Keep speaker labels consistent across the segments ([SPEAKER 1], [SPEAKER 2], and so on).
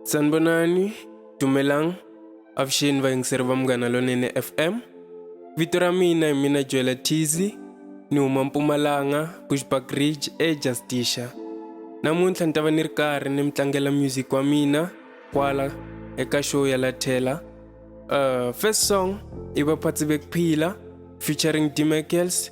[SPEAKER 1] sanibonani dumelang avuxeni vayingiseri va munghana lonene fm vito ra mina hi mina joela tizy ni huma mpumalanga bushback ridge ejusticia namuntlha ni ta va ni ri karhi ni mi tlangela music wa mina kwala eka show ya lathela uh, first song i vaphatsi bekuphila featuring dmacels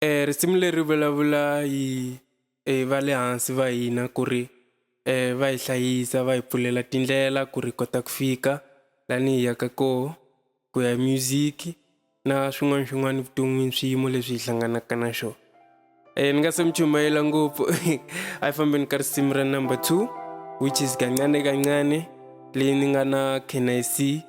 [SPEAKER 1] eh, risimu leri vulavula hi eh, va le hansi va hina ku ri eh, va hi hlayisa va hi pfulela tindlela ku ri kota ku fika lani hi yaka koho ku ya music na swin'wana swin'wana vuton'wini swiyimo leswi hi hlanganaka na xona um ni nga se mi chumayela ngopfu a yi fambeni ka risimu ra number two which is kancane kancane leyi ni nga na knic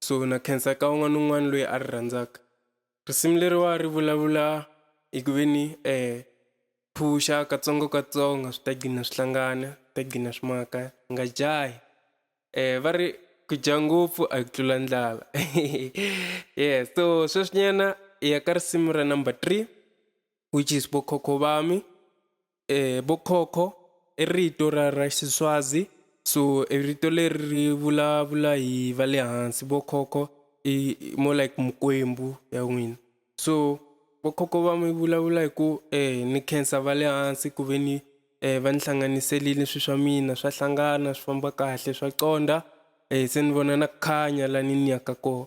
[SPEAKER 1] kusuhi na khensa ka un'wana ni un'wana loyi a ri rhandzaka. Risimu leriwa ri vulavula hi ku ve ni phuxa katsongokatsongo swi ta gcina swi hlangana swi ta gcina swi maka hi nga jahi va ri ku dya ngopfu a hi ku tlula ndlala yes so sweswinyana hi ya ka risimu ra number three which is vo khokho va mi. Bokhokho i rito ra ra Xiswazi so i rito leri ri vulavula hi va le hansi vokhokho i more like mikwembu ya n'wina so vokhokho va mi vulavula hi ku ni khensa va le hansi ku ve ni va ni hlanganiselile swilo swa mina swa hlangana swi famba kahle swa conda se ni vona na ku khanya lani ni yaka kona.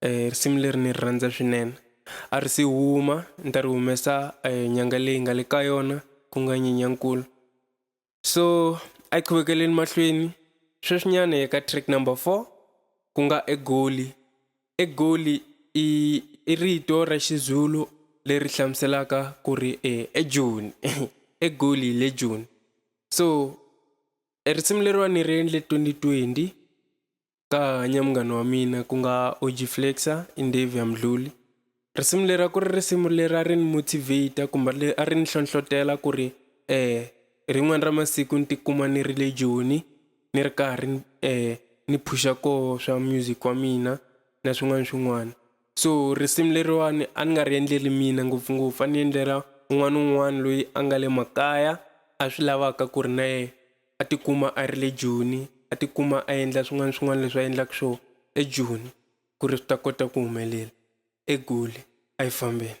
[SPEAKER 1] eh, risimu leri ni ri rhandza swinene a ri si huma ni ta ri humesa eh, nyanga leyi nga le ka yona ku nga nyenyankulu so a yi chuvekeleni mahlweni sweswinyana eka track number four ku nga egoli egoli i i rito ra xizulu leri hlamuselaka ku ri eh, ejoni egoli le joni so e risimu leriwani ni ri endle 2020 ka hanya munghana wa mina ku nga OG Flexa i Ndavia Mdluli risimu leri a ku ri risimu leri a ri ni motivate kumbe leri a ri ni hlohlotela ku ri um rin'wana ra masiku ni tikuma ni ri le joni ni ri karhi ni um ni phuxa koho swa music wa mina na swin'wana swin'wana so risimu leriwani a ni nga ri endleli mina ngopfungopfu a ni endlela un'wana na un'wana loyi a nga le makaya a swi lavaka ku ri na yena a tikuma a ri le Joni a tikuma a endla swin'wana swin'wana leswi a endlaka swo eJoni ku ri swi ta kota ku humelela eGoli a yi fambeni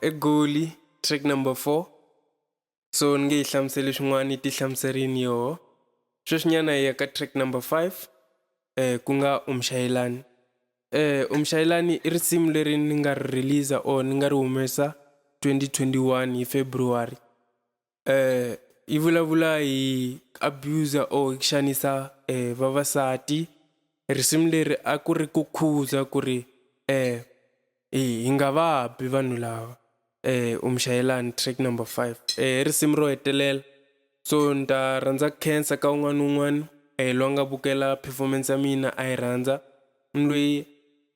[SPEAKER 1] egoli track number four so ni nge yi hlamuseli swin'wana yi ti hlamuserini yoho sweswinyana hi ya ka track number five eh ku nga umshayelani eh umshayelani i risimu leri ni nga ri release or ni nga ri humesa 2021 hi february eh, yi vulavula hi abuser or xanisa eh, vavasati risimu leri a ku ri ku khuza ku ri eh, hi nga va bi vanhu lava eh, umshayelani track number five eh, risimu ro hetelela so ni ta rhandza cancer ka un'wana un'wana eh, loyi a nga vukela performance ya mina a yi rhandza ni loyi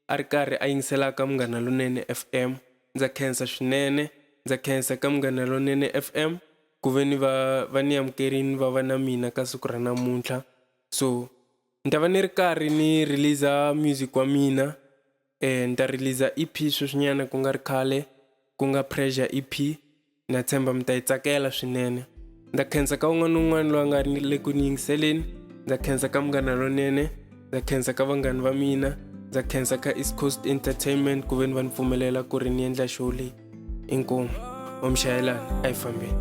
[SPEAKER 1] A ri karhi a yingisela ka Munghana Lonene FM. Ndza khensa swinene. Ndza khensa ka Munghana Lonene FM ku ve ni va va ni amukerini va va na mina ka siku ra namuntlha. So ni ta va ni ri karhi ni release-a music wa mina ni ta release-a E_P sweswinyana ku nga ri khale ku nga Pressure E_P. na tshemba mi ta yi tsakela swinene ndza khensa ka un'wana na un'wana loyi a nga le ku ni yingiseleni ndza khensa ka munghana lonene ndza khensa ka vanghani va mina ndza khensa ka east coast entertainment ku ve ni va ni pfumelela ku ri ni endla show leyi inkomu omshayelana a yi fambeni